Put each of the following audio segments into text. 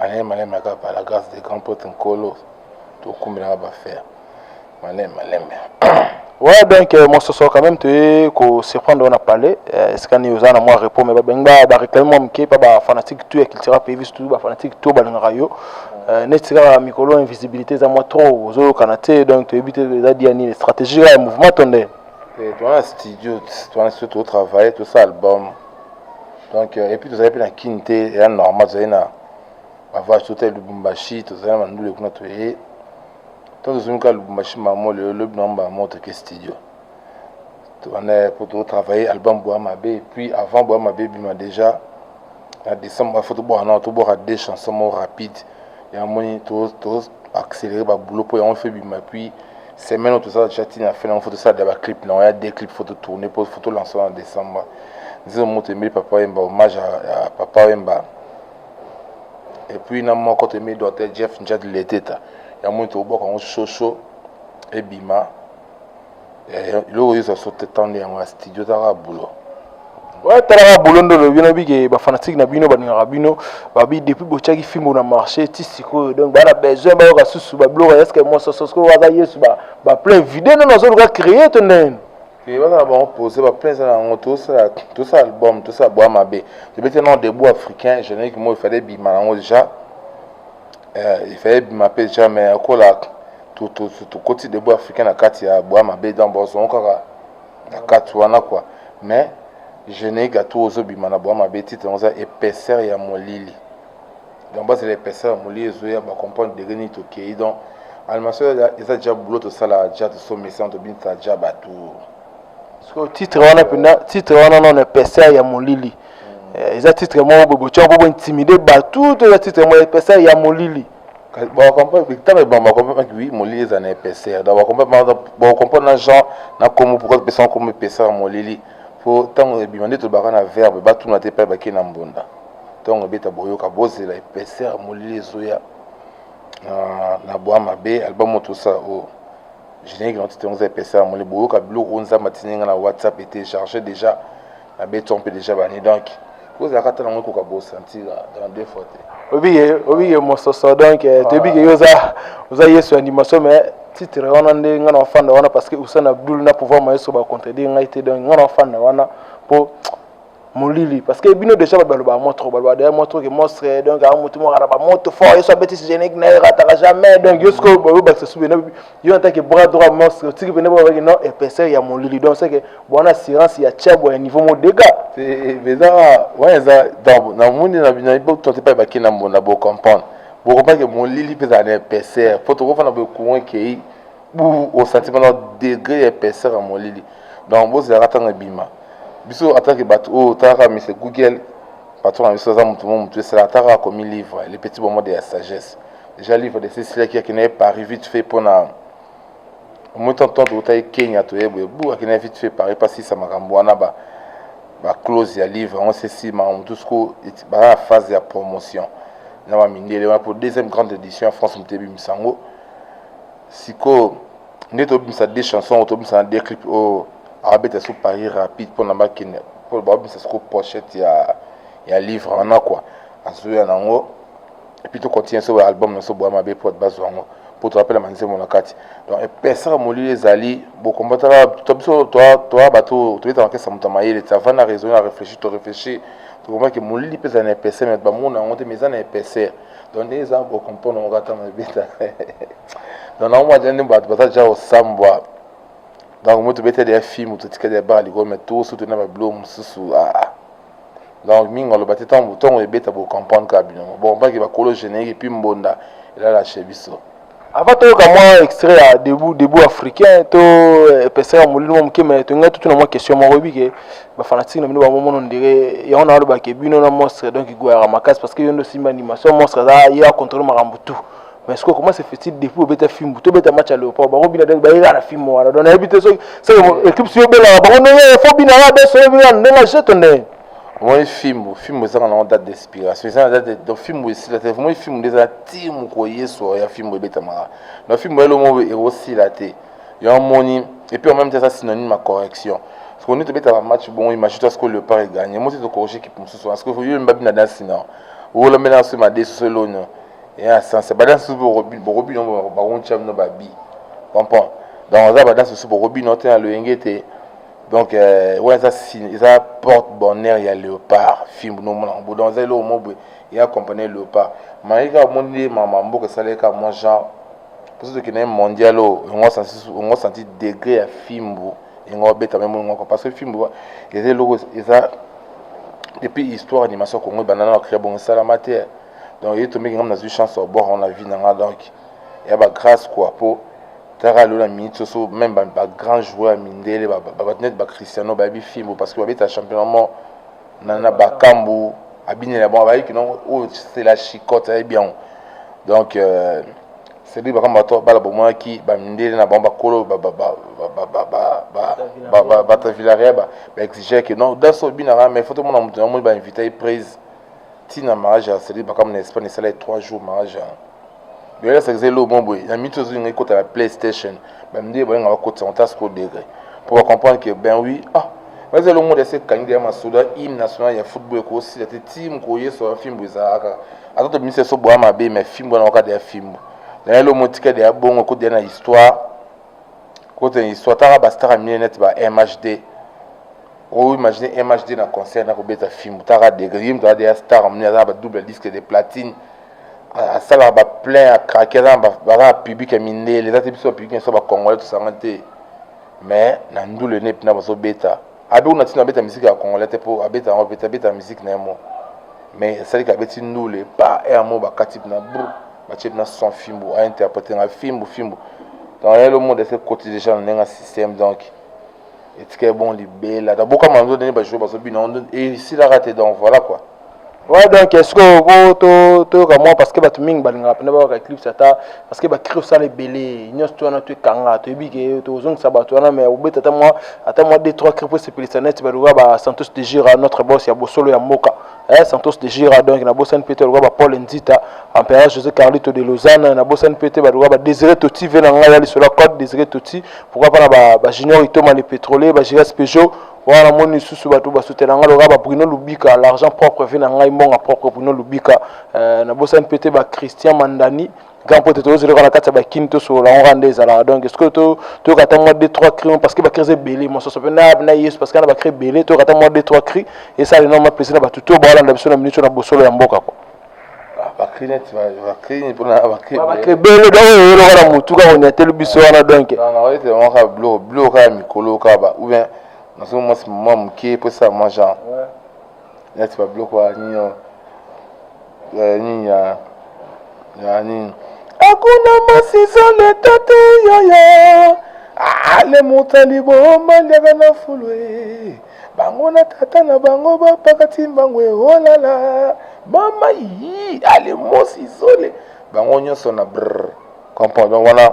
Malema lema kaka par la grâce de grand pote nkolo tokumbelaka bafer malema lema ouais donc euh, mososo quand même toye kosurprendre wana palais euh, esika nini oza na mwa repos me babengi bareklame mwa moke mpa bafanatique tout ya cultura pays biso tout bafanatique tout balingaka yo euh, neti kaka mikolo invisibilité eza mwa trop ozolokana te donc toyebi te eza dia nini stratégie kaka ya mouvement to nde towana studio towana studio totravaille tosa album donc euh, epuis tozali mpe na kini te eya normal tozali na bavage totali lubumbashi tozali na bandule kuna toye ntango tozongi kaka lubumbashi mamo lelo lobi na mba moko toke studio wana mpo totravaille album boya mabe epuis avant boya mabe ebima déjà na décembre foto bwana tobwaka deux chanson moko rapide ya moni to to accélérer ba boulot po yango fait bima puis semaine oyo tozala tya ntina fina yango fo tosala da baclip na yango ya deux clip fo totourne mpo fo tolansa na décembre nzembo moko toyembeli papa wemba hommage ya papa wemba epuis na moko toyembeli docteur jeff njad leteta yango moni tobwaka yango soso ebima eloko yoza sote tande yango ya studio taka bulo talaka bolo nde olobi na bike bafanatike na bino balingaka bino babi depuis botyaki fimbo na marché ti sikoyo donc baa na besoin bayoka susu babiloko eske mososo sikoyo waza yesu baplein vide nde nazoluka créer to ndenge eh, baza na bango pose baplein eza na yango tosala album tosala bwa mabe tobeti non debout africain générique moko efale ebima yango déjà efale ebima mpe déjà mais akolaka tokoti debout africain na kati ya boya mabe donc bozongo kaka na kati wana kua mais genei gato ozobima na boya mabe titre yango eza épaisseur ya molili donc bazela épaisseur ya molili ezoya bacomprendre degre nini tokei donc animation eza ja boulot tosala ja tosomesa tobinisa ja bato sikoyo titre wana mpenza titre wana nano épaisseur ya molili hmm. eh, eza titre moko bobotiaka mpo bointimide bato to eza titre moko épaisseur ya molili bakompre bitama ebama bakompre oui molili eza na épaisseur donc bakompre bakompre na genre na komo pourquoi topesa na komo épaisseur ya molili mpo ntango ebima nde tolobaka na verbe batuna te epai bakei na mbunda ntongo ebeta boyoka bozela épaisseur ya molili ezoya na bwa mabe album oyo tosala oyo générique na titre yango eza épaisseur ya molili boyoka biloko oyo nzambe atindi ngai na whatsapp ete charge déjà abeti mpe deja bani donc kozala kata nango ekoka bosantira dans deux fois te obike obike mososo donc eh, toyebike yo oza oza yesu ya ndimaso mais titre wana nde ngai na ofanda wana parce que usain abdul na pouvoir mayeso bacontredire ngai te donc ngai na ofanda wana mpo molili parce que bino déjà bato balobaka mwa trop balobaka deja mwa trop ke monstre donc aa motu mokana bamoto fort yesu abetisi génique na ye rataka jamais donc yo sikoyo boyobakisa subi yo en tant que bras droit monstre otiki pene boka baki non épaisseur ya molili donc c'est que bwana assurance ya chabwa ya niveau mo dega eza wana eza donc na moni na bino bo tonte pa baki na mbonda bo comprendre bo comprendre que molili peza na épaisseur po to kofana bo courant kei bu au sentiment degré ya épaisseur ya molili donc bo zela katanga bima biso en tant que bato oyo oh, talaka monsieur google patron na biso aza moto mo moto esala ataka akomi livre le petit bomode ya sagesse Jean livre de Cecilia qui akina Paris vite fait pona omoi tonton tokotaki kenya toye boye bu akenda vite fait paris mpo asisa makambo wana ba baclose ya livre yango sesi makambo mosusu ko baza na phase ya promotion na bamindele wana mpo deuxième grande édition ya france moto ebimisa yango sikoyo nde tobimisa de chanson oyo tobimisa na de clip oyo abeta so paris rapide mpona bakende mpo babimisa soko pochette ya, ya livre wana kua azoya nango et puis to continuer so ba album na so boya mabe po ba zwa ngo po to rappelle manzemo na kati donc epesa molili ezali bo combattre la to biso to to ba to to beta kesa muta mayele ça va na raisonner réfléchir to réfléchir to comprend que molili pesa na epesa mais ba mona ngo te mais na epesa donc nde eza bo comprendre ngo kata na beta donc na mwa jende ba ba ja osambwa donc moto beta de film to tikade ba ligo mais tout surtout na ba blom susu ah donc mingi aloba te ntango ntongo ebeta bocomprendre kaka bino bon mpaki bakolo générique epuis mbonda elala chez biso avant toyoka mwa extrait ya debout debout africain to epesaka eh, molili mwa moke mai tolingai totuna mwa question moko oyebi ke bafanatike na bino bamomono ndire yango na balobake bino na monstre donc igwayaka makasi parce que yo nde osimba animation monstre aza ye acontrole makambo tout mais sikoyo comment se fait-il depuis obeta fimbu tobeta match ya léopard bango bina ndenge bayela na fimbu wana donc nayebi te soki soki équipe si obelaka bango ndenge fo bina ya beso oyebi wana ndenge ajete ndenge omoni fimbu fimbu ezaka nango date d'inspiration eza na date donc fimbu esila te omoni fimbu nde eza ti mokolo yesu ya fimbu ebetamaka donc fimbu elomo ekosila te yo omoni et puis en même temps eza synonyme ya correction sikoyo nde tobetaka match bongo imagine toi sikoyo léopard eganye mo te tokorrige équipe mosusu wana sikoyo yo mbabi na dansi na olambela na soki madesu solonio ya sanse ba danse susu bokobino bakontya bino babi comprend donc aza ba danse susu bokobino te na loyenge ete donc euh, wana eza eza porte bonheur ya léopard fimbu nomonaka bo donc eza eloko mo boye ya compagnie léopard maye kaka omoni nde mama mboka esalaki kaka mwa genre mposo tokende ye mondial oyo yango santi degré ya fimbu yango obeta meme moko parce que fimbu eza eloko eza depuis histoire animation congo ebanda na bakrea bongo esalama te donc ye tombeki ngai nazwi chance ya kobwaka yango na vie na ngai donc ya ba grâce quoi po tala lelo na minute soso même ba, ba grand joueur ya mindele bato neti bacristiano bayebi fimbo parce que babeta championnat mo na, na bakambu abinela bango bayiki nongo oyo oh, c'est la chicote ayebi yango donc euh, cedric bakambo bato bala bomonaki bamindele na bango bakolo bata villaria baexigea ke non daso obinaka mais foto mona moto na moni bainvita ye prise tina mariage ya seli bakamu na espagne esala ye 3 jours mariage yango bela sakisa elo mo boye na mito ezolinga ekota na playstation bamide balinga bakotisa ota siko degre mpo bacomprendre ke ben oui ah baza elo monde ase ekangi deya masoda hymne national ya football ekosila te ti mokolo yesu ya fimbo ezalaka ata tobimisa eso boya mabe me fimbo wana waka deya fimbo na elo mo tika deya bongo ekodeya na histoire kote swataka ba star mine net ba MHD o imagine MHD na concert na kobeta film taka degré yim taka deya star mine aza ba double disque de platine asalaka ba plein ya craquer aza na baza public ya mindele eza te biso ba public na biso ba congolais tosanga te mais na ndule ne pina bazo beta abe kuna tina abeta miziki ya congolais te mpo abeta yango beta abeta miziki na ye mo mais esalika abeti ndule pa emo bakati na bru Mathieu na son fimbu a interprète nga fimbu fimbu donc yelo monde ese koti déjà na nenga système donc etika bon libela da boka manzo ndenge ba jour bazo bina ondo et si la rate donc voilà quoi Ouais, donc est-ce que po to toyoka mwa parce que bato mingi balingaka mpena babaka eclipse ata parce que bacri osala ebele nyonso to wana to ekanga toyebi ke tozongisa bato wana mais obeta ata mwa ata mwa d trois cri mpo esepelisa neti baluka ba santos de jura notre boss ya bosolo ya mboka eh, Santos de Gira donc na bosani pete lokola ba Paul Nzita Empereur José Carlito de Lausanne na bosani pete ba lokola ba Désiré Toti ve na ngai ya lisolo ya code Désiré Toti pourquoi pas na ba, ba Junior Itoma le pétrolier ba Giras Peugeot wana namoni lisusu bato basutela ngai lokola ba Bruno Lubika l'argent propre ve na ngai mbonga propre Bruno Lubika eh, na bosani pete ba Christian Mandani grand pote tozozela kaka na kati ya bakini tosolola yango kaka nde ezalaka donc sikoyo toyoka ata mwa de trois cri parce que bacri eza ebele mososo mpe nab na yesu parce que na bacri ebele toyoka ata mwa de trois cri esala enorme plaisir na bato to baolanda biso na minute na bosolo ya mboka ko bakri neti bakri mpona bakri ebele donc oyo oyoloka na motu kaka onyateli biso wana donc naoyete yango kaka bilo bilo kaka mikolo kaka ba ou bien nazo mwasi mwa moke mpo esala mwa genre neti babiloko ya nini ya nini ya ya nini akuna masizo leta te yaya ale moto ya liboma liaka na fulwe bango na tata na bango bapakati mbango eolala mama yi ale mosizole bango nyonso na brr comprendre wana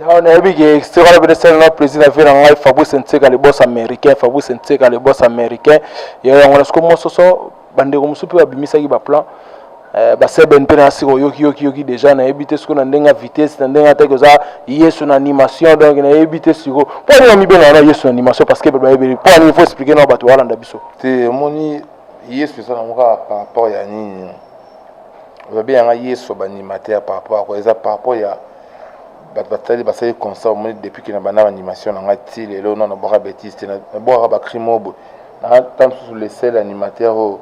Non, nayebi ke extrait wana pene sala na plaisir na vie na ngai Fabrice Nseka le boss américain Fabrice Nseka le boss américain ya yango na siko mososo bandeko mosusu mpe babimisaki baplan eh, baseben mpe na siko yoki yoki yoki deja nayebi te siko na ndenge ya vitesse na ndenge ataki oza yesu na animation donc nayebi te siko mpo nini amibena wana yesu na animation parce que bato bayebeli mpo nini faut expliquer na bato balanda biso te omoni yesu eza nango kaka par rapport ya nini ozabe yanga yesu banimateur par rapport eza par rapport ya bato batali basali constat omoni depuis ke na banda baanimation na ngai ti lelo na nabwaka betise te nabwakaka bacrime oyo boye nata mosusu le seul animateur oyo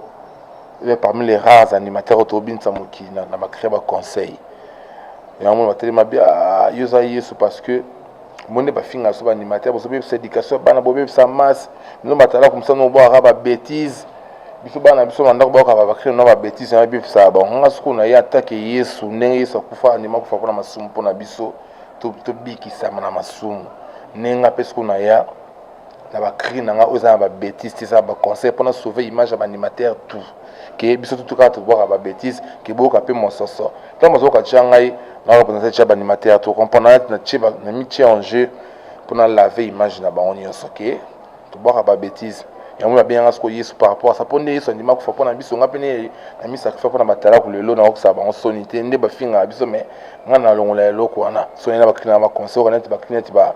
eza parmi les rares animateur oyo tobinisa mokili na bacree baconseil yango mona batali mabe ah, yo oza yesu parce que omoni nde bafinga so baanimateur bozobebisa éducation ya bana bobebisa masse mino batalaka mosana obwakaka babetise biso bana na biso na ndako baokaka bakristo na babetise na ebebisaka bango nga sikoyo na ye atake yesu ndenge yesu akufa andima kufa mpo na masumu mpo na biso tobikisama na masumu ndenge nga mpe sikoyo na ya na bacri na nga oyo eza na babetise te eza na baconseil mpo na sauve image ya baanimateur tout ke biso tutu kaka tobwaka babetise ke boyoka mpe mososo ntango bazokoka tya ngai nayoka mpenza tya baanimateur to comprendre na mitie en jeu mpo na lave image na bango nyonso ke Tobwaka ba betises. Yango na bengaka siko Yesu par rapport à ça. Ponde Yesu andima kufa pona biso nga pene na mi sacrifice pona batalaku lelo na okisa bango soni te nde bafinga biso mais nga na longola eloko wana soni na bakina ba conseil kana te bakina te ba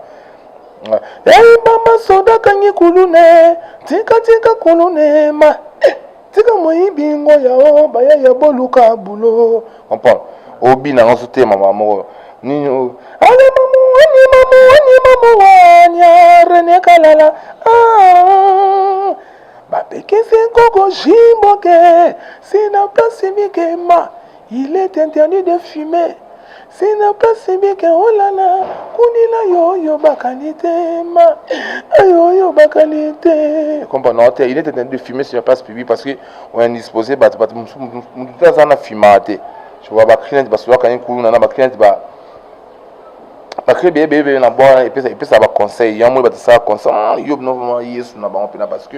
Hey mama soda kangi kulune tika tika kulune ma tika moyibi ngo yao bayaya boluka bulo comprendre obi na nganso te mama moko nini ale mamu wani mamu wani mamu wanya rene kalala ah, bapekisi nkoko jimboke sina pasi mikema Il est interdit de fumer. C'est n'a pas si bien que oh là là, kunila yo yo bakali te ma, ah, yo yo bakali te. Comprends non, il est interdit de fumer sur la place publique parce que on est disposé bah bah tout ça na fumate. Je vois bah client bah soit quand il coule na bah client bah bakri beyebeyebeye na bwana epesa epesa baconseil yango oyo batisaka conseil yo bino vraimen yesu na bango mpena parce que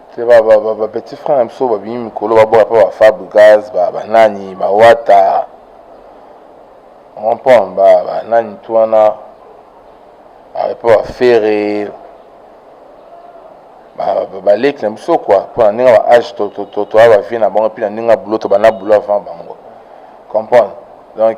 C'est ba ba ba, ba petit frère na biso babimi mikolo baboya mpe ba Fabregas ba banani ba Wata comprendre ba banani tu wana mpe ba Ferre baleki na biso kua mpo na ndenge ba age toya bavie na bango mpe na ndenge ya boulot tobanda boulot avant bango comprendre donc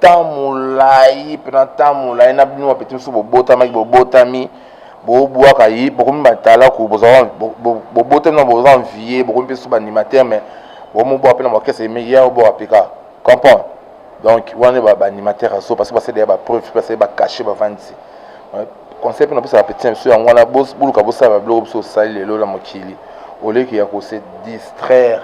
temps molai mpena temps molai na bino bapeti mosusu bobotamaki bobotami bobwaka ye bokomi batalaku bobotami na boza envie bokomi mpe susu baanimateur mais bomobwaka mpe na bakese emeki ya obwaka pika comprendre donc wana nde baanimateur azo parce que basali ya bapreuve mpe basali bacashe bavandisi conseil mpe napesa bapeti na biso yango wana boluka bosala babiloko biso osali lelo na mokili oleki ya kose distraire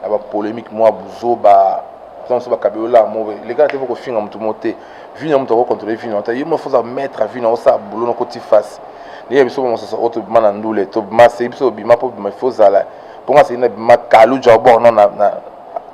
na bapolémique mwa buzoba biso bakabeli olaa mo leka na te kofinga motu mo te vino ya moto akokontrole vino ata ye mofoza maître vino osala bulo na koti face ndenge biso bamosusu oyo tobima na ndule tobima se biso obima mpo bima ifo ozala mpo nga seli na bima kalu jabor no na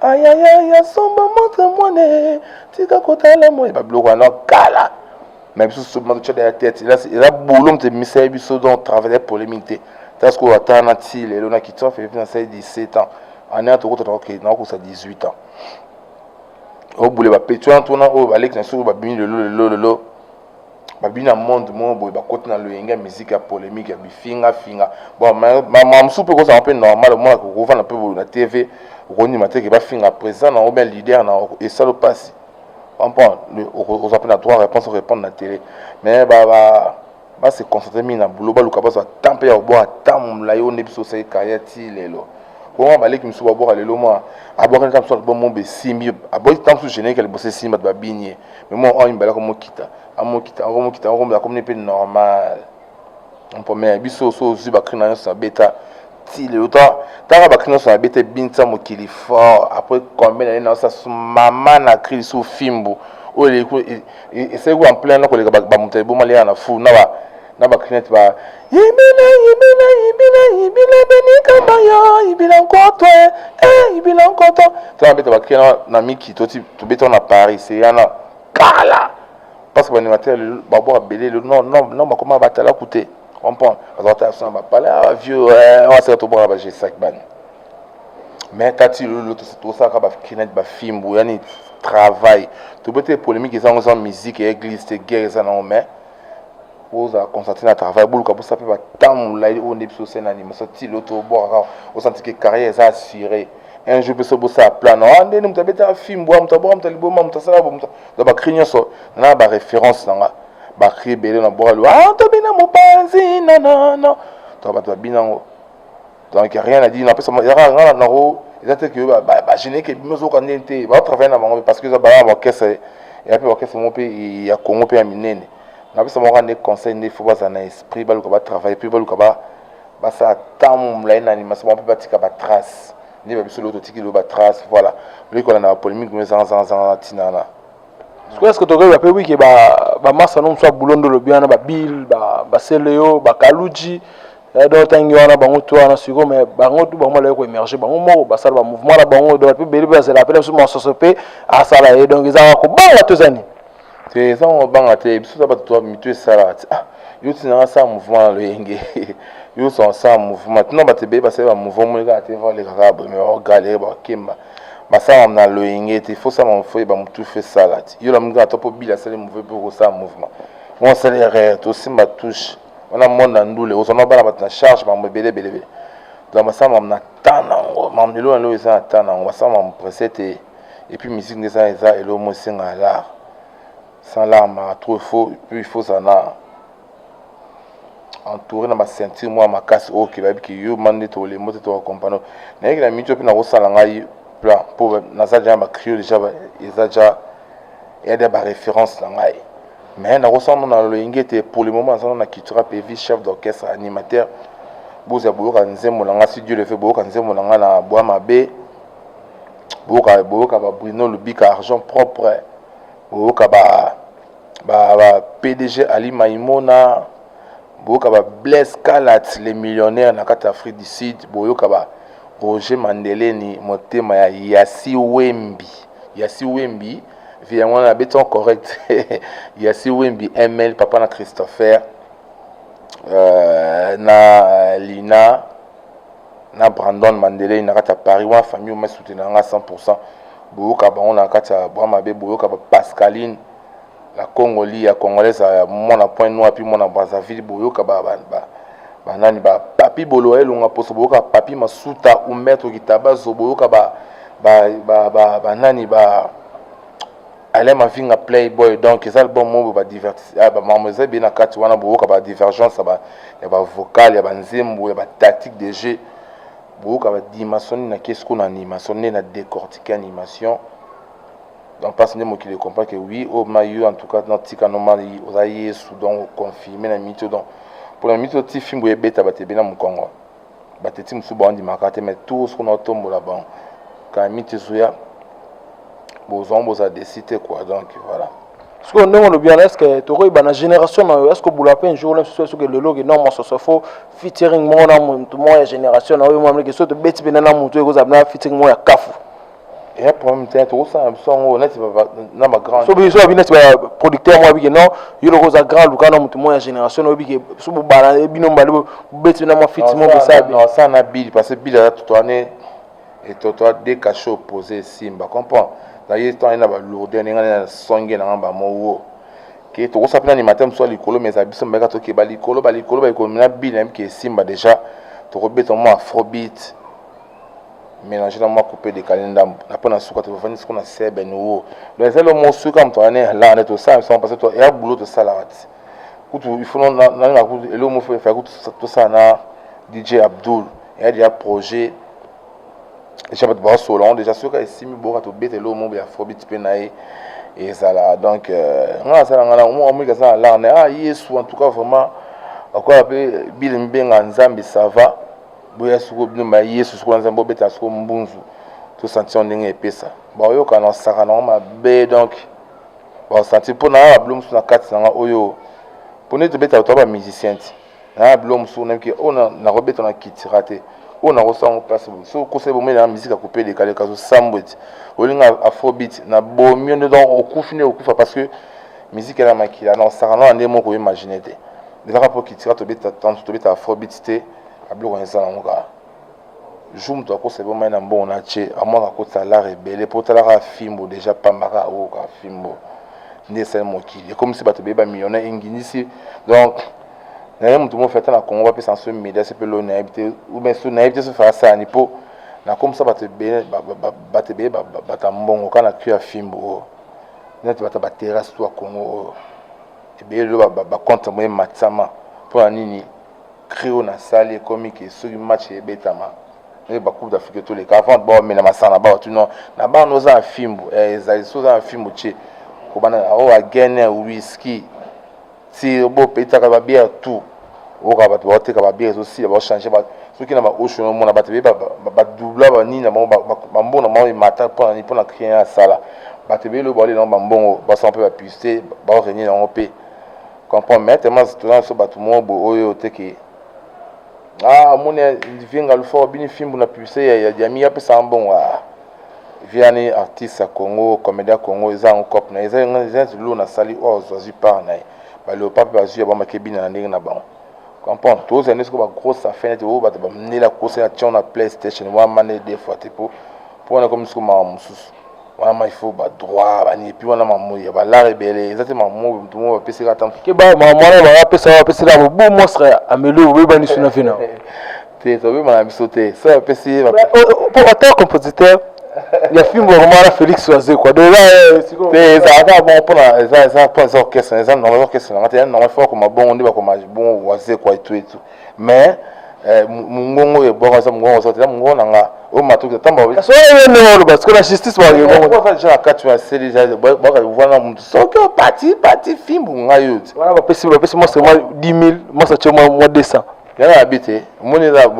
ayayaya somba montre mwana eh, tika kotala moye babiloko wana kala me biso soba totya daya tete eza bolo moto emisali biso donc travaille polémique te ta sikoyo ata na ti lelo na kitwa felipe nasali 17 ans année tokota nakokosa 18 ans obule bapeti wana tona oyo baleki na soko babimi lelo lelo lelo Babi na monde moko boye bakoti na loyenge ya miziki ya polemique ya bifinga finga. Bon ma mosusu mpe kozala mpe normal omonaka okovanda mpe boye na TV okondima te ke bafinga president na obia leader na esalo mpasi comprendre okozwa mpe na droit réponse orépondre na tele mais ba, ba base concentre mingi na boulot baluka bazwa temps mpe ya kobwaka temps molai oyo nde biso osali carrière ti lelo bongo baleki mosusu babwaka lelo mwa abwakani kaka mosusu albomo besimbi abwaki temps mosusu générique ya liboso esimbi bato babini ye Mais moi, on imbala comme kita, amo kita, amo kita, amo la comme n'est normal. On peut mais biso so zuba krina yo sa beta. Ti le autant, tara ba krina sa beta binta mo kili fort. Après combien d'années na sa maman na krili sou fimbu. Oyo le ko et c'est quoi en plein na ko le ba ba mutebo malia na fou na ba na ba crainte ba ibila ibila ibila ibila beni kamba yo ibila nkoto eh ibila nkoto to na beta ba crainte na miki to ti to beta na Paris c'est yana kala parce que ba animateur ba bo abele le non non non ba koma batala kute comprendre ba ta son ba pala ah, vieux eh, on se to bo ba je sac ban mais kati lolo to to sa ka ba crainte ba fimbu yani travail to beta polémique ezango za musique et église te guerre za na mais bozala concentre na travail boluka bosa mpe batambola oyo nde biso osena nima so tilo to obwaka kaka osanti ke carrière eza assure un jour mpe so bosala plan na nde nde moto abetaka fimbo ya moto abwaka moto ya liboma moto asala bo moto na bacri nyonso na baréférence na nga bacri ebele na bwaka liwa ah, tobina mopanzi nanana to bato babina yango donc ya rien à dire napesa yaka nga na nango eza te ke bagene ke bino ozoka ndeni te baotravaille na bango parce que eza baa baorchestre ya mpe baorchestre moko mpe ya congo mpe ya minene napesa bango kaka nde conseil nde faut bazala na esprit baluka batravaille mpe baluka basala ntango molai na animation bango mpe batika batrace nde babiso lelo totiki lelo batrace voilà oleki kolanda bapolémique mo ezangazangazanga na ntina wana sikoyo eske tokoyeba mpe wike bamasa no mosu ya bulondo olobi wana babill baseleo bakaluji ba Eh, donc ntangi wana bango tu wana sikoyo me bango tu bango balaki koemerge bango moko basala bamouvement na bango donc mpe beli bazela mpe na biso masoso mpe asala ye donc ezalaka kobanga to eza nini te eza ngo banga te biso za bato mitu esalaka ti ah yo ti nanga asala mouvement na loyenge yo so asala mouvement tina bato ebele basali bamouvement moni kaka te valeka kaka boye me baogalere bakemba basala na loyenge te fo sala mofo ye bamotu fe sala ti yo lamoni kaka to mpo bila asali mouvement mpe okosala mouvement ngo asali erreur tosimba touche wana monde na ndule ozwa na bana bato na charge makambo ebele ebele ebele donc basala makambo na temps na yango makambo lelo na lelo eza na temps na yango basala makambo presse te epuis musique nde eza eza eloko mo esenga lar sans lar maka trop faut puis il faut ozala na entouré na baceinture mwa makasi oyo ke bayebi ke yo mani nde tokolembo te tokokompano nayeki na mitio mpe nakosala ngai plan mpo naza deja na bacrio deja eza deja eya deja baréférence na ngai Mais nakosana na loyenge ete pour le moment nazana na Kitra Pevi, chef d'orchestre, animateur. Bozela boyoka nzembo na nga si Dieu le veut, boyoka nzembo na nga na Bwa Mabe. Boyoka boyoka ba Bruno Lubika Argent propre. Boyoka ba ba, ba PDG Ali Maimona. Boyoka ba Blaise Kalat les millionnaires na kati Afrique du Sud. Boyoka ba Roger Mandeleni motema ya Yasi Wembi. ya si wembi vie yango wana abeti en correct ya si wembi ml papa na christopher euh, na lina na brandon mandelei na kati ya paris wana famille omasutena nga 100 pourcent boyoka bango na kati ya bwa mabe boyoka ba pascaline Na Congo li ya congolais a mona point noir pi mona Brazzaville boyoka ba ba ba ba nani ba papi bolo elonga poso boyoka papi masuta ou maître kitabazo boyoka ba ba ba ba ba nani ba Alain Mavinga Playboy donc eza album moko ba divertis ah, ba mambo eza bien na kati wana boyoka ba divergence ya ba ya ba vocal ya ba nzembo ya ba tactique de jeu boyoka ba dimension na kesi ko na animation nde na décortiquer animation donc mpasi nde mokili ecomprend ke oui oyo oh, ma yo en tout cas na tika normal oza yesu donc confirme na mito donc mpo na mito ti fimbo ebeta bato ebele na mokongo bato eti mosusu baondimaka te mais tour soko naotombola bango kala mito ezoya bozwango bozala desi te quoi donc voilà sikoyo ndenge olobi wana estce tokoyeba na génération na yo estce obula mpe jour na soso soki lelo ke non mososo fo featuring moko na motu moko ya génération na oyo mwa mleke so tobeti mpena na motu ekozala na featuring moko ya kafu ya problème te tokosala na biso yango neti na bagrand so biso abi neti baproducteur moko abike non yo loko oza grand luka na motu moko ya génération na oyebike so bobala eh, bino mbale bobeti na mwa fiti moko bosabi osala na bili parce que bili aza totoane etotoa de cachet opposé esimba comprend na ye to ayina balourde ndenge na songe na ngamba mowo ke tokosala mpe na nimate mosusu ya likolo mais eza biso mbeka toke balikolo balikolo balikolo na bili nayebike esimba déjà tokobeta mwa afrobeat mélange na mwa coupe décalé ndambo na mpo na suka tofandi siko na sebe nouveau donc ezali yo mosuka moto ane alaa nde tosala biso parce que ya boulot tosalaka ti kutu il faut nalinga kutu eloko moko efai kutu tosala na dj abdul eya deja projet deja bato baosolola yango deja soki esimi boyoka tobeta eloko moko ya fobit mpe na ye ezala donc euh, ngai nasala ngai nango moko moki aza na larne ah yesu en tout cas vraiment akoya mpe bile mibenga nzambe sava boya soko bino ba yesu soko nzambe obeta soko mbunzu tosantion ndenge epesa baoyokana osaka nango mabe donc baosantir mpo naa babilo mosusu na kati na nga oyo mpo nde tobeta bato ya bamusicien ti naa bilo mosusu nayebi ke oyo nakobeta na kitira te oyo nakosala yango place boye so okosai bomoi naa misika kupe elekaleka zosambwe ti olinga afrobit na bomi yo nde donc okufi nde okufa parce que miziki ena makila na osaka nao na nde moko oimagine te ezaka mpo kitira tobeta tanso tobeta afrobit te abiloko nisa nango kaka jour moto akosa eboma ye na mbongo na tie amwaka akotisa lare ebele mpo otalaka fimbo deja pamba kaka oyoka oh, fimbo nde esali mokili ekomisi bato beye bamillionnaire engindisi donc naye moto mofi ata na congo bapesa nso media se mpe loni nayebi te oubien so nayebi te so fasani mpo nakomisa bato ebele bato ebele bata mbongo kaka na tu ya fimbo oyo oh. neti bata baterrasse to ya congo oyo oh. ebele lelo bacontre moye matisama mpo na nini cri oyo nasali ekomi ke soki match ebetama ndenge bacoupe d'afrique toleka avant bamela masanga bawa tuno na bana oza na fimbu eh, ezali soki oza na fimbu ce kobanda oyo oh, agene wiski ti bopetaka babiere tout oyoka bato baoteka babiere ezosila baochange bato soki na baocean omona bato ebele badubla banini na bango bambongo na bango emata mpona nini mpona rien asala bato ebele oyo baolela yango bambongo basala mpe bapuce baorenie na yango mpe comprend mais tellement tona so bato moko boye oyo te ke ah omoni vie ngalufort bini fimbu na publicité ya, ya diami apesaka mbongo ah viani artiste ya congo comédien congo eza yango cop na ye eza zulu nasali oyo oh, azwi part na ye baleopa mpe bazwi ya bamaki ebina na ndenge na bango comprendre tozali nde soko bagrosse afin nete oyo bato bamnela kosa na tion na playstation wana mane de fois te mpo mpo wana ekomi siko mawa mosusu wana ma ifo badroit baniepi wana mamoyi ya balare ebele eza te mamoyi motu moko bapesaka ata keba mamwana bapesa bapesaka bobo monstre ameli obebani suna vina te tobeba na biso te so bapesi ye mpo ata compositeur ya fimbo akomana félix wazekwa donc te ezalaka bongo mpona eza eza mpo eza orchestre eza normal orchestre nanga te ya normal fo akoma bongo nde bakoma bongo wazekwa etu etu mais eh, mungongo oyo ebwaka eza mungongo oza te eza mungongo na nga oyo matoki atamba so ye ndenge oloba sikoyo na justice baza deja na kati na seli baka wana motu soki opati pati fimbu ngai yo te wana bapesi bapesi mwasa mwa 10 000 mwasa tye mwa 200 yana yabi te omoni eza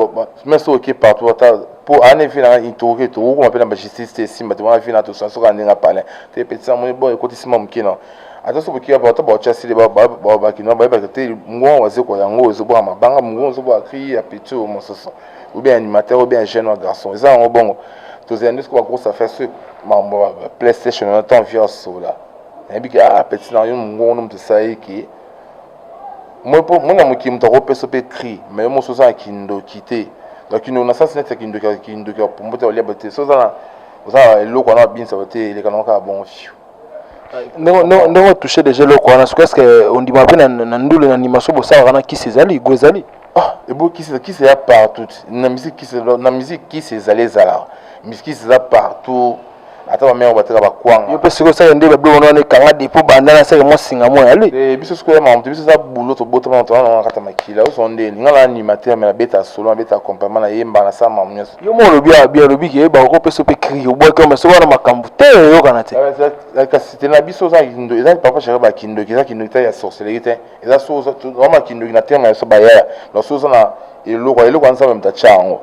me soki oke partout ata mpo ana efi nanga intoroke tokokoma mpe na bajustice te esimba te wana efi na tosana soki aninga palin te petisa moni bo ekotisi mwa moke na ata soki bokia ata baotya sili bakinois bayebaka te mongongo wazekwa yango ezobwaka mabanga mongongo ezobwaka kri ya petit oyo mosusu obien animateur obien jeune wa garçon eza yango bongo tozela nde soki bagrosse affaire soki mambo ya playstation wana ntango via sola nayebi ke ah petit na yo mongongo no moto esali ke mona mokili moto akopesa mpe kri mai yo mosusu oza na kindoki te donc kindoki na sasi neti ya kindoki ya kindoki ya pombo te olia bote so oza na oza na eloko wana babinisa bote elekana kaka bongo fiu ndenge otouche déjà eloko wana soki eske ondima mpe na ndule na ndima so bosalaka na kisi ezali go ezali ah, ebo kisi kisi eza partout na musique kisi na musique kisi ezali ezalaka musique kisi eza partout ata bamere bateka bakwanga yo mpe sikoyo seke nde babiloko wana ekanga depo banda na seke mwa singa mwa yali eh, biso sikoyo ya makambo te biso eza bulo tobotama na tolana na kata makila oso nde elinga na animateur me nabeta solo nabeta accompagnement nayemba nasala makambo nyonso yo moko olobi ya bien olobi ke yeba okopesa mpe cri obwaki ome soki wana makambo te oyokana te eh, kasi te na biso oza kindo eza papa chaka bakindoki eza kindoki te ya sorcellerie te eza so ozama kindoki na tena biso bayaya na so oza na eloko eloko ya nzambe moto atya yango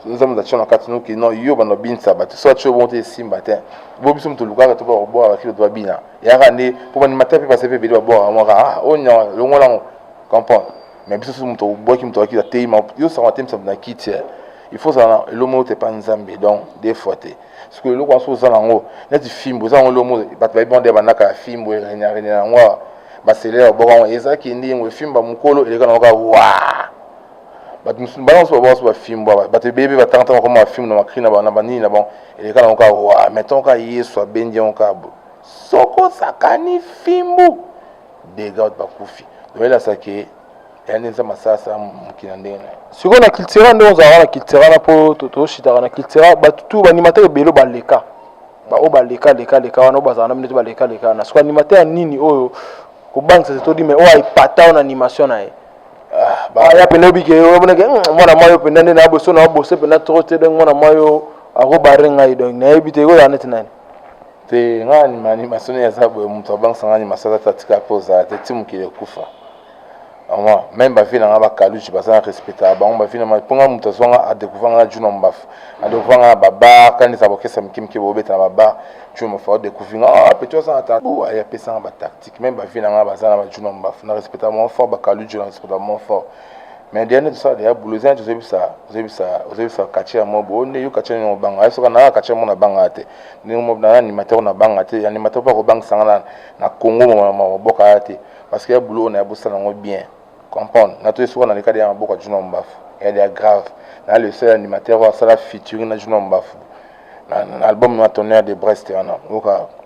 nzambe moto atya na kati noki no yo bando obinisa bato so atyo bongo te esimba te bo biso moto olukaka to bakobwaka bakilo to babina yaka nde mpo bandimata mpe base mpe ebele babwaka mwaka ah, onya longola yango comprendre mais biso soki moto obwaki moto akiti ateyi ma yo sango atemisa moto na kiti eh. il faut ozala na eloko moko te epa nzambe donc des fois te sikoyo eloko wana soki oza nango neti fimbo eza yango eloko moko bato bayebi yango nde bandaka ya fimbo erenarene yango awa baselele babwaka yango eza kende yango efimba mokolo eleka nango kaka wa bato mosusu bana mosusu babwaka so bafimbo bato ebebe batangata bakoma bafimbo na makri na banini na bango eleka nango kaka wa metango kaka yesu abendi yango kaka soko sakani fimbu degout bakufi oyelasa ke yande nzambe asalasa mokili na ndenge na ye sikoyo na kiltira nde ozalaka na kiltira na mpo toshitaka na kiltira bato tu banimata ebele baleka baoyo baleka leka leka wana oyo bazala na bino te baleka leka wana sikoyo animateur ya nini oyo kobangisa te todi mai oyo aipata wana animation na ye ah, aya mpenza obike oboneke hmm, mwana mwa yo mpenza nde na boso na bose mpenza trop te donc mwana mwa yo akobarre ngai donc nayebi te ekoyaka neti nani te nga anima anima soni ya zabu mutu abangisa nga anima sala ta tika po za te timu ki kufa ama même ba vie na nga ba kaluji ba za respecta ba ngomba vie na ma ponga mutu zonga a découvrir nga juna mbafu a découvrir nga ba ba kani za bokesa mkim ki bo beta ba ba juna mbafu a découvrir nga ah petit za ta bu a ya pesa ba tactique même ba vie na nga ba za na ba juna mbafu na respecta mon fort ba kaluji na respecta mon fort mais dia nde tosala deya bulo eza neti ozebisa ozebisa ozebisa katie ya mobo oyo nde yo katie nini obanga ye soka naa katie mo nabanga te ndenge mobo na animateur nabanga te animateur mpe akobangisa nga na na congo mama maboka ya te parce que ya bulo oyo na ya bosala yango bien comprendre na to esoka na leka deya maboka juna mbafu ya deya grave na le seul animateur oyo asala featuring na juna mbafu na album na tonnerre de brest wana oyoka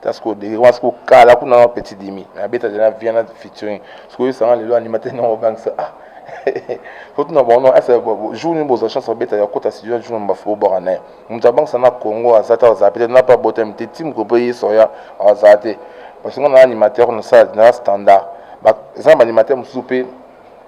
ta sikoyo dege wana sikoyo kala kuna na petit dimi mais abeta deja viana featuring sikoyo esanga lelo animateur niongo obangisa ah fotuna bango non ese jour nini bozwa chance babeta ya kota studio jour nini bafo bobwaka na ye moto abangisa na congo aza te azala peut-être na pa botami te ti mokolo mpo ye soya azala te parce que nga na animateur nasala na standard eza na baanimateur mosusu mpe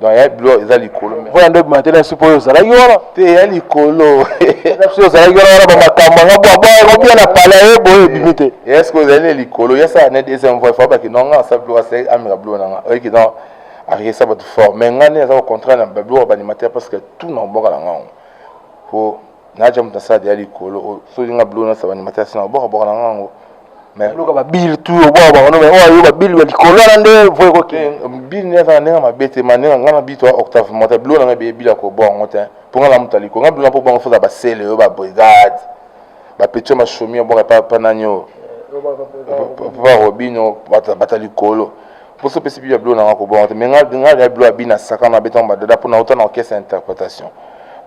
donc ya bilo eza likolo mpo yando ebimate na supo oyo ozalaki wana te ya likolo biso ozalaki wana wana bamakambo yanga bwabwabia na pala ye boye ebimi te eske ozali na likolo ye asala ne deuxième voie fo abaki nonga asa bilo asali ameka bilo nanga oyeki donc akekisa bato fort mais ngai nde aza kocontraire na babilo ya baanimateur parce que tout na koboka na ngango po naja moto nasala deya likolo oh, soki nga bilo nasaba animateur asina babwakabwaka na nga yango loka babile tu obwakabwaka no oyo ayo babile ya likolo wana nde voi koke eh, bile nde azala ndenge mabe te ma ndenge nga na bito octave mota bilo nanga ebeye bile akobwaka yango te mpo nga na moto ya likolo nga bilo na mpo bwango foza basele oyo babrigade bapetio mashomi abwaka epa nani oyo papa robino bata likolo mposo opesi bibi ya bilo nanga kobonga te mais nga ya bilo abina sakana abetanga badada mpo nauta na orchestre ya interprétation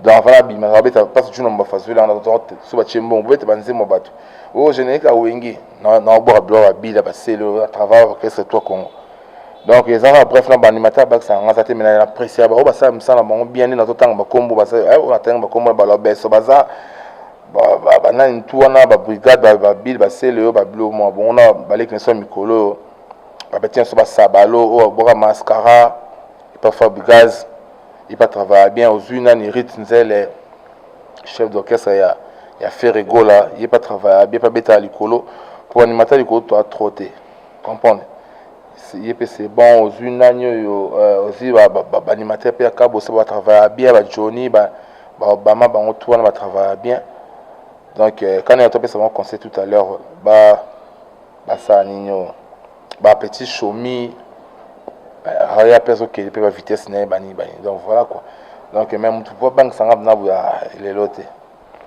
donc avant abimaka abeta mpasi juna mobafazweli yango so batie mbongo bobete banzembo bato oyo générique awenge naobwaka bilo babila basele travail orchestre toi congo donc ezaka bref na baanimateur bakisaka nga aza te mena na presse ya baoyo basala misala na bango bien nde nazotanga bakombo natanga bakombo na balobeso baza banani tu wana babrigade babile basele oyo babilo mwa bongo na baleki na so ya mikolo oyo babeti nyonso basabalo oyo aboka mascara epa fabrigaz epa travaille bien ozwi nani rit nzele chef d'orchestre ya, ya ferre gola ye epa travaille bien epa betaka likolo mpo animata likolo toa tro te comprendre ye mpe c'est bon ozwi nani oyo euh, ozwi baanimateur mpe ya kabosa batravaille bien bajoni babama bango tu wana batravaille bien donc euh, kani ya to apesa bango conseil tout à l'heure ba ba saani nioh ba petit shomi haya pe azo kende pe ba vitesse naye bani bani donc voilà quoi donc mais mutu po abangisa nga bna buya lelo te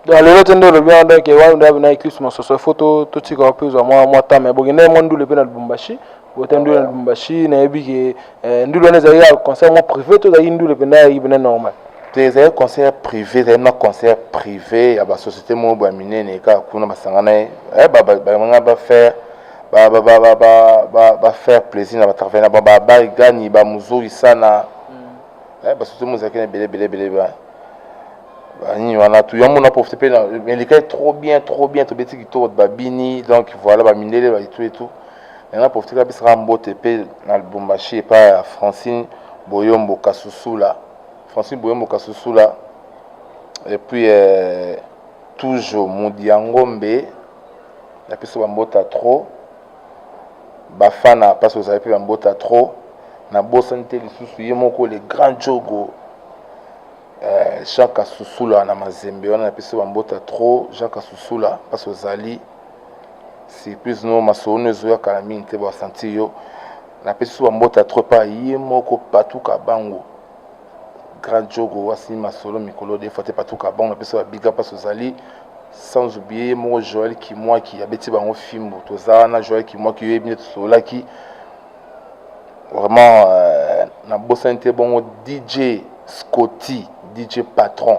donc lelo te nde olobi wana donc wana nde abina eclipse masoso ifo totika wapi ozwa mwa mwa temps mais bokende mwa ndule mpe na lubumbashi bokende ndule na lubumbashi nayebi ke Eh, ndule wana ezali ya concert mo privé to ezali ndule mpenza ya ibena normal te ezali concert privé ezali na concert privé ya basociété moko boya minene kaka kuna basangana ye eh, banga bafaire bafaire plaisir na batravaille na bango babarigani bamuzoi sana mm. eh, basociété moko ezalaki na ebele ebele ebele ba banini wana tu yango na profite mpe elekaki trop bien trop bien tobeti kitoko babini donc voilà bamindele baitu etu Nanga profite ka pesa mbote pe na Lubumbashi epa ya Francine Boyombo Kasusula. Francine Boyombo Kasusula et puis euh, toujours Mudiangombe na pesa ba mbota trop. Bafana parce que vous avez pe ba mbota trop. Na bosani te lisusu ye moko le grand Jogo euh, Jean Kasusula na Mazembe wana na pesa ba mbota trop Jean Kasusula parce que ozali surprise no masolo no ezoya kala mingi te basanti yo napesi so bambota trop epa ye moko patou kabango grand jogo wasi masolo mikolo defa te patou kabango napesi babiga mpasi ozali sans oublier ye moko joel kimwaki abeti bango fimbo toza wana joel kimwaki yo yebi nde tosololaki vraiment euh, nabosani te bongo dj scotty dj patron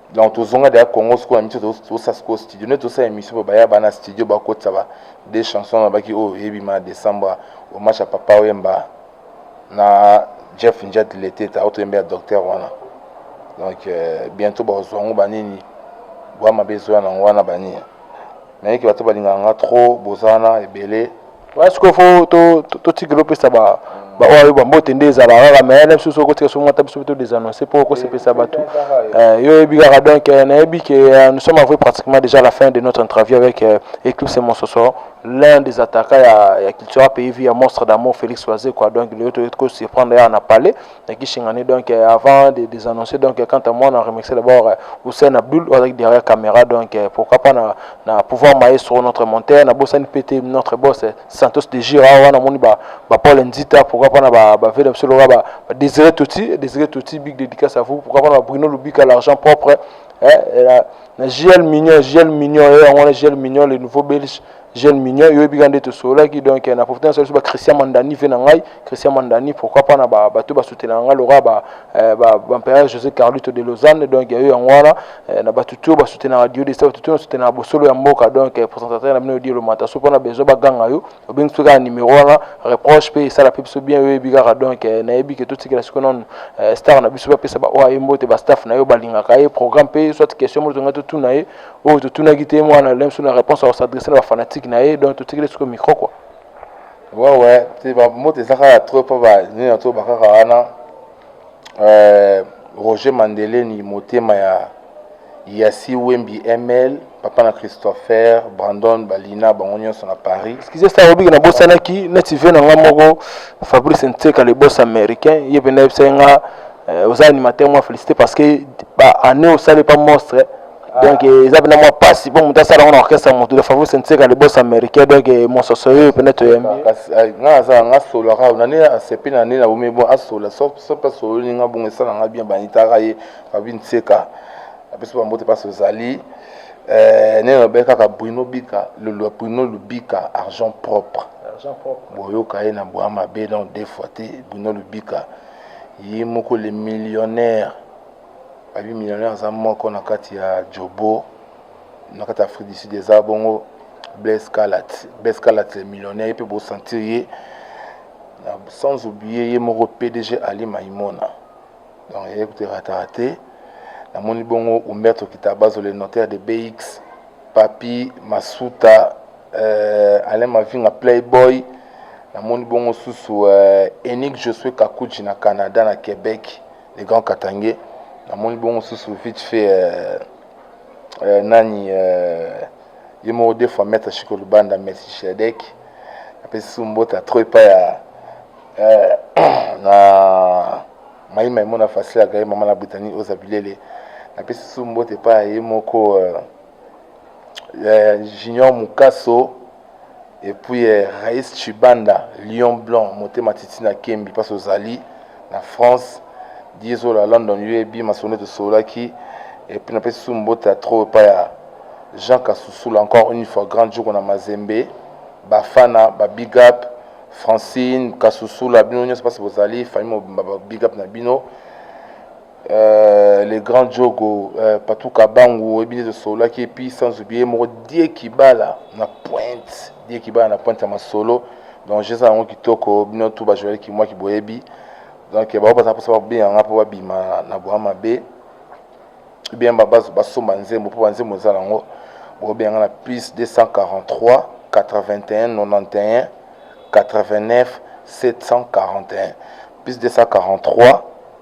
donc tozonga deya congo sikoyo na miso tosa sikoyo studio nde tosala émission mpo baya bana studio bakotisa ba de chanson na baki oyo eyebima na décembre omatch ya papa oyemba na jeff njet leteta oyo toyemba ya docteur wana donc euh, bientôt bakozwa yango banini bwa mabe ezoya nango wana banini naye ke bato balingaka nga trop bozana ebele wana sikoyo fo totikela opesa ba baoyo ayo bambote nde ezala kaka me na biso soki okotika soki ata biso mpe to desannonce mpo okosepelisa bato yo oyebi kaka donc nayebi ke nous sommes avoué pratiquement déjà la fin de notre interview avec euh, éclipse mososo l'un des attaquants ya, ya cultura pays vie ya monstre d'amour félix wazekwa donc lelo toyei kosurprendre yaka na palais na Kisangani donc euh, avant de des annoncer donc euh, quant à moi na remercier d'abord euh, Hussein Abdul avec derrière caméra donc pourquoi pas na na pouvoir maestro notre monteur na Bossan PT notre boss Santos de Gira wana moni ba ba Paul Nzita pourquoi pas na ba ba Veda Msolo ba, ba Désiré Tuti Désiré Tuti big dédicace à vous pourquoi pas na Bruno Lubika l'argent propre eh, na, na JL Mignon JL Mignon eh, on a JL Mignon le nouveau belge jeune mignon yo yebi ka nde tosololaki donc na profite nasala biso ba christian mandani ve na ngai christian mandani pourquoi pas na bato basutenaka ngai lokola bampere euh, josé carlito de lausanne donc yayo yango wana euh, na bato to basutenaka dio desta bato to basutenaka bosolo ya mboka donc euh, présentateur na bino odielo mata so mpona besoin baganga yo obengi biso kaka numero wana reproche mpe esala mpe biso bien yo yebi kaka donc nayebi ke totikela siko nanu star na biso bapesa baoyo aye mbote bastaff na yo balingaka ye programme mpe soit question moto ngai totuna ye oyo totunaki te mwana lem so na réponse ya kosadresse na bafanatique na ye donc totikeli sikoyo micro kua wewe te bamoto eza kaka tro mpo banini na to bakaka wana euh, roger mandeleni motema ya yasi wembi ml papa na christopher brandon balina bango nyonso na paris skize sa obiki nabosanaki neti ve na nga moko fabrice nteka le bos américain ye mpenza yebisaki nga euh, oza animateur mwa félicité parce que baannée osali pa monstre donc eza mpena mwa mpasi mpo moto asala ngo na orchestre motu de fabrice nseka le bos américain donc mososo oyo mpena toyembi nga asala nga solo kaka nani asepi na nini nabomi bon asola sope asololi nga bongo esala nga bien banitaka ye fabi nseka apesi bambote mpasi ozali eh, nene lobe kaka bruno bika lolua bruno lubika argent propre boyoka ye na bwa mabe donc deux fois te bruno lubika ye moko le millionnaire Abi millionnaire aza moko na kati ya Jobo na kati ya Afrique du Sud eza bongo Blaise Kalat Blaise Kalat le millionnaire ye mpe bosentir ye na sans oublier ye moko PDG Ali Maimona donc ye kote ratara te namoni bongo Umberto Kitabazo le notaire de BX Papi Masuta euh, Alain Mavinga Playboy namoni bongo susu euh, Enig Josue Kakuji na Canada na Québec le grand katangais namoni bongo susu vite fait euh, euh, nani euh, ye moko deux fois maître chiko lubanda merci shedek apesi su mbota trop epai ya euh, na mai maimona facile agari mama na britanie oza bilele napesi su mbota epai ya ye moko euh, eh, Junior Mukaso et puis eh, Rais Chibanda Lion Blanc motema titi na Kembi parce ozali na France dieso la London UAB masone tosolaki et puis napesi su mbote ya trop epai ya Jean Kasusula encore une fois grand jour na Mazembe bafana ba big up Francine Kasusula bino nyonso parce bozali famille mobimba ba big up na bino Euh, le grand jogo euh, patou kabangu oyebi nde tosololaki epuis sans oublie moko die kibala na pointe die kibala na pointe ya masolo donc jeza yango kitoko bino tu bajoyali kimwa kiboyebi donc bango baza mposa babenga nga mpo babima na bwa mabe bien basomba nzembo mpo banzembo eza nango bobenga nga na plus 243 81 91 89 741 plus 243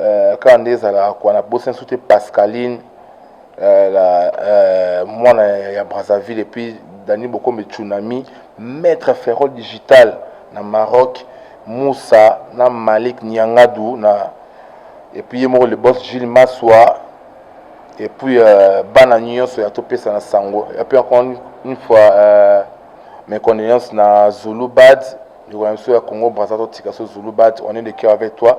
euh, kaka nde ezalaka kwa na bosanso te pascaline euh, la, euh, mwana ya brazzaville epuis dani bokombe tsunami maître ferrol digital na maroc musa na malik niangadu na epuis ye moko le boss gile maswa epuis euh, bana nyonso ya topesa na sango epuis encore une fois euh, mes condoléances na zulu bad ndeko na biso ya congo braza totika so zulu bat on est de cœur avec toi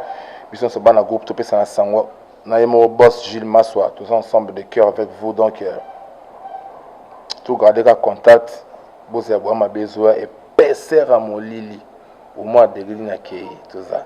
biso nyonso bana groupe topesana sango na ye moko boss gilles maswa toza ensemble de cœur avec vous donc euh, togarde ka contact bozela bwa mabe ezoya epesera molili omwa degrine akei toza